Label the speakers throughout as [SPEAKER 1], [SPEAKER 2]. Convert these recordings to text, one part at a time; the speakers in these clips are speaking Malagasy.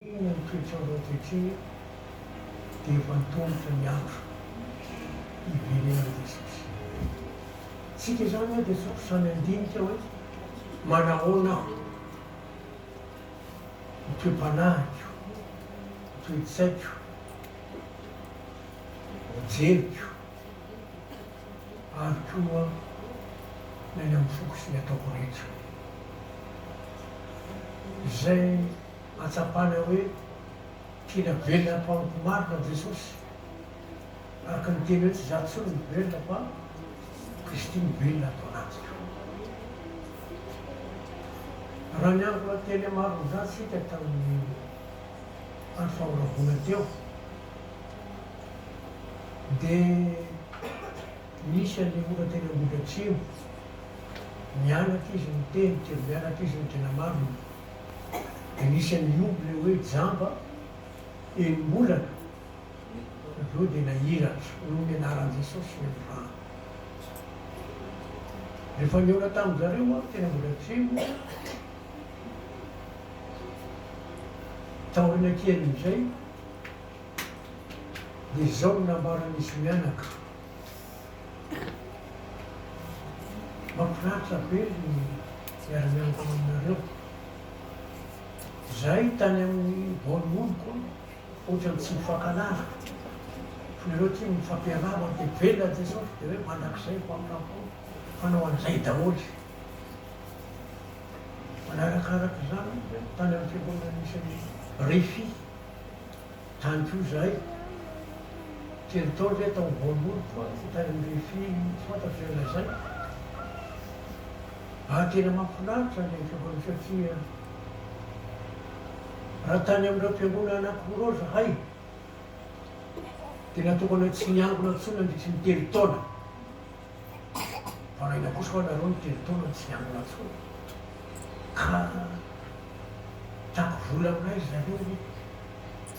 [SPEAKER 1] Inona ny toetr'andro ankehitriny dia efa antomotra ny andro hiverenan'i Jesosy. Isika izany moa dia sokitra any an-dinika hoe manahoana aho, ny toe-panahiko, ny toe-tsaiko, ny jeriko. ary koa ny any amin'ny foko sy ny ataoko rehetra. Izay ahatsapana hoe tena velona am-pahomby marina Jesosy, araka ny teny hoe tsy izaho intsony no velona fa Kristy no velona ato anatiko. Raha niangona tena maro amin'izany isika tamin'ny andro fahoravoana teo, Dia nisy an'i Ora teny Ambohidratrimo, nianatra izy niteny teo, nianatra izy nitena marina. Dia nisy an'i Ioby ilay hoe jamba, enim-bolana, avy eo dia nahiratra, noho ny anaran'i Jesosy ny androany. Rehefa nihaona tamin-dry zareo aho teny Ambohidratrimo, taoriana kelin'izay, dia izao no nambaran'izy mianaka, Mahafinaritra be ny miara-mianatra aminareo. Izahay tany amin'ny Bournemouth koa ohatran'ny tsy nifankahalala, fa nareo aty mifampihalala dia velona Jesosy dia hoe mandrakizay ho amin'ny Rampony hanao an'izay daholo. Manarakaraka izany, tany amin'ny fiangonana misy an'i Rifi. Tany koa izahay, telo taona ve tao voalohany koa aho tany amin'ny Rfi tsy fantatro izay lazaina. Ary tena mahafinaritra ilay fihaonana satria raha tany amin'ireo mpiangona anankiroa ireo izahay dia natokana tsy niangona intsony nandritry ny telo taona. Varahina kosa hoa nareo ny telo taona tsy nianona tsony ka tiako vola aminay ry zareo hoe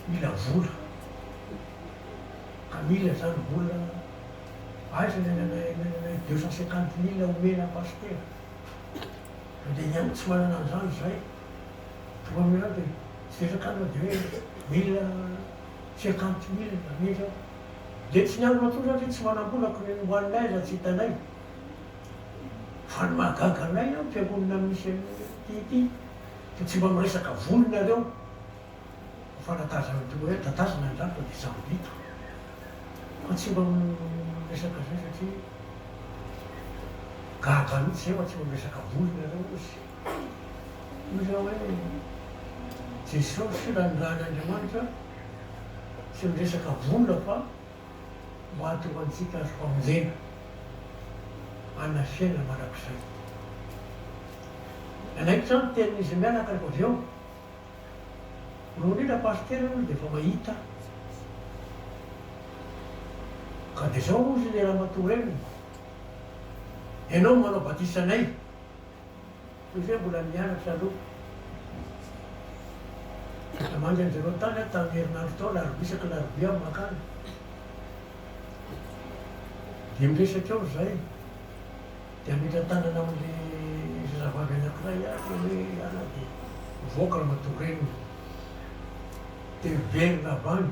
[SPEAKER 1] mila vola ka mila zany vola aiza ny ananay ny ananay deux cent cinquante mille omena pasitera sao dia ny an'ny tsy manana an'izany zay, Tomamirato e, tsy resaka anao dia hoe mila. cinquante mille Anie zao de tsy niangona intsony satria tsy manambola ko ny any hoaniny aiza tsy hitanay fa ny mahagaga anay an mpiangonana misy an'ity ity de tsy mba miresaka vola nareo ho fanatazana toy ny hoe tatazana ny rafitra de sambito fa tsy mba miresaka zay satria gaga mitsy zay fa tsy mba miresaka vola nareo ozy. Hoy izaho hoe, Jesosy filanindran'ny Andriamanitra tsy miresaka vola fa mahatonga antsika azo famonjena hanana fiainana mandrakizay. Nanaitra aho ny tenin'izy mianaka rehefa avy eo. Roa indrindra Pasitera hoy izy dia efa mahita aho. Ka dia izao hozy ilay ramatoa reniny, Ianao no manao batisa anay. Toy izay mbola nianatra aloha. Namangy an'i Jerao tany aho tamin'ny herinandro tao, alarobia isaky ny alarobia aho mankany. Dia miresaka eo izahay. Dia hametra tanana amin'ilay zazavavy anankiray aho dia hoe, Ianao dia mivoaka ramatoa reniny. Dia very Labana.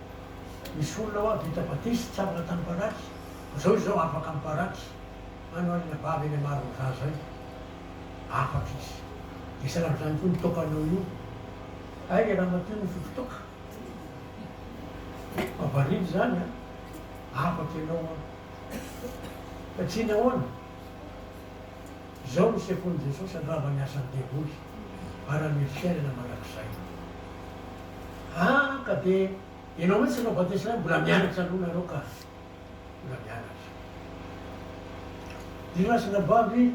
[SPEAKER 1] Misy olona ho'a vita batisa tsy afaka tamin'ny baraky, zao izao afaka amin'ny baraky, any ho'a ilay vavy eny Marin'ny Zaza eny, afaka izy. Dia sahala amin'izany koa io tokanao io, hay le ramatoa io mifidy toka, fa variana izany an, afaka ianao an, satria nahoana? Izao no sekolin'i Jesosy handrava ny asan'ny devoly ary hanome fiainana mandrakizay. Ah, ka dia ianao mihitsy no batesina hoe mbola mianatra aloha nareo ka. Mbola mianatra. Ry razana vavy,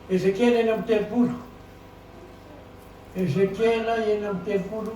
[SPEAKER 1] Ezekiela enina amby telopolo, Ezekiela enina amby telopolo.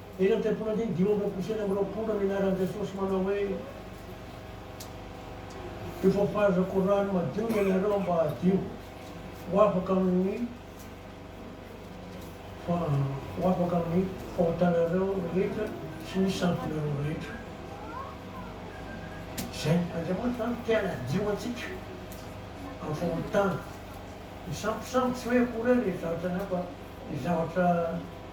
[SPEAKER 1] Eny amin'ny tempoly andiny dimy amby roapolo sy enina amby roapolo no nianaran'i Jesosy manao hoe, Efa fahaizako rano madio ianareo mba hadio ho afaka amin'ny ho afaka amin'ny fahotanareo rehetra sy ny santinareo rehetra. Izay. Andriamanitra izany te hanadio antsika amin'ny fahotana. Ny sambosambo tsy hoe akory ary ny zavatra hafa, ny zavatra.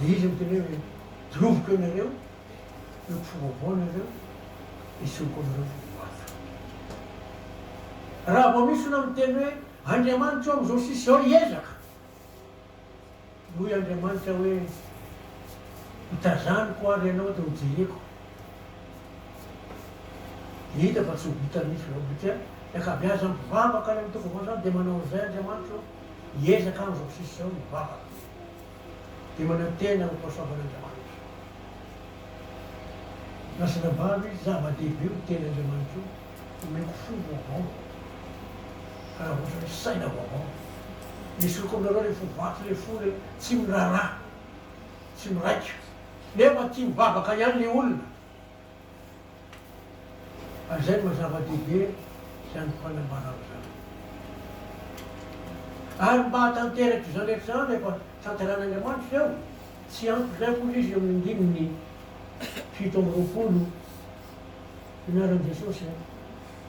[SPEAKER 1] Dia izy miteny hoe, Dioviko anareo, io mpifoha vaovao anareo, esoriko anareo fa ho avy Aho. Raha vao misy olona miteny hoe, Andriamanitra eo amin'izao sisa izao hiezaka, dia hoy Andriamanitra hoe, Hotazaniko àry ianao dia hojereko. Dia hita fa tsy ho vita mihitsy izao, satria ny ankabeazan'ny mpivavaka any amin'ny toko vaovao izany dia manao an'izay Andriamanitra eo. Hiezaka aho izao sisa izao ny vavako dia manantena ho fahasoavan'Andriamanitra. Lasa nambaro izy, Zava-dehibe ho teny Andriamanitra io, omeko fo vaovao raha ohatra hoe saina vaovao. Esoriko aminareo ilay fo vaky, ilay fo ilay tsy miraharaha, tsy miraika. Nefa tia mivavaka ihany ilay olona. Izay no zava-dehibe izany fanambarana izany. Ary mba hahatanteraka izany rehetra izany rehefa tanterahin'Andriamanitra izao, tsy ampy izay akory izy eo amin'ny andininy fito amby roapolo, Ny anaran'i Jesosy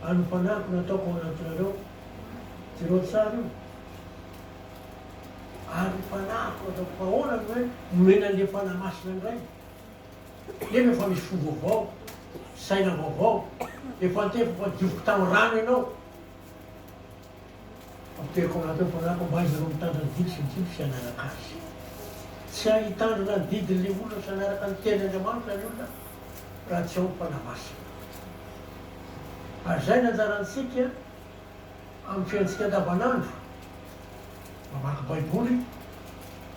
[SPEAKER 1] ary ny fanahiko no ataoko ao anatinareo, jereo tsara io, ary ny fanahiko no ataoko, fa ahoana no hoe omena an'ilay Fanahy Masina indray? Nefa efa misy fo vaovao, saina vaovao, efa antefako adiovo kitaho rano ianao. Apoteriko anaty ao fanahiko mba hahaizanao mitandrina ny didy sy ny dimpy sy hanaraka azy. Tsy hay hitandrina ny didin'ilay olona sy hanaraka ny tenin' Andriamanitra ny olona raha tsy ao ny Fanahy Masina. Ary izay no anjarantsika amin'ny fiainantsika andavanandro. Mamaky Baiboly,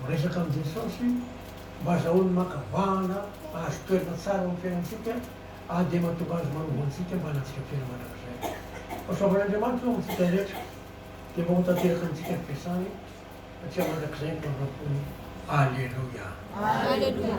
[SPEAKER 1] miresaka amin'i Jesosy mba hazahoany maka vahana hahazo toerana tsara ao amin'ny fiainantsika ary dia mahatonga Azy manovo antsika mba hanantsika fiainana mandrakizay. Fahasoavan'Andriamanitra eo amintsika rehetra dia mba ho tanteraka amintsika ny fiasany taty mandrakizay ny fahafaham-pony. Aleloia! Aleloia!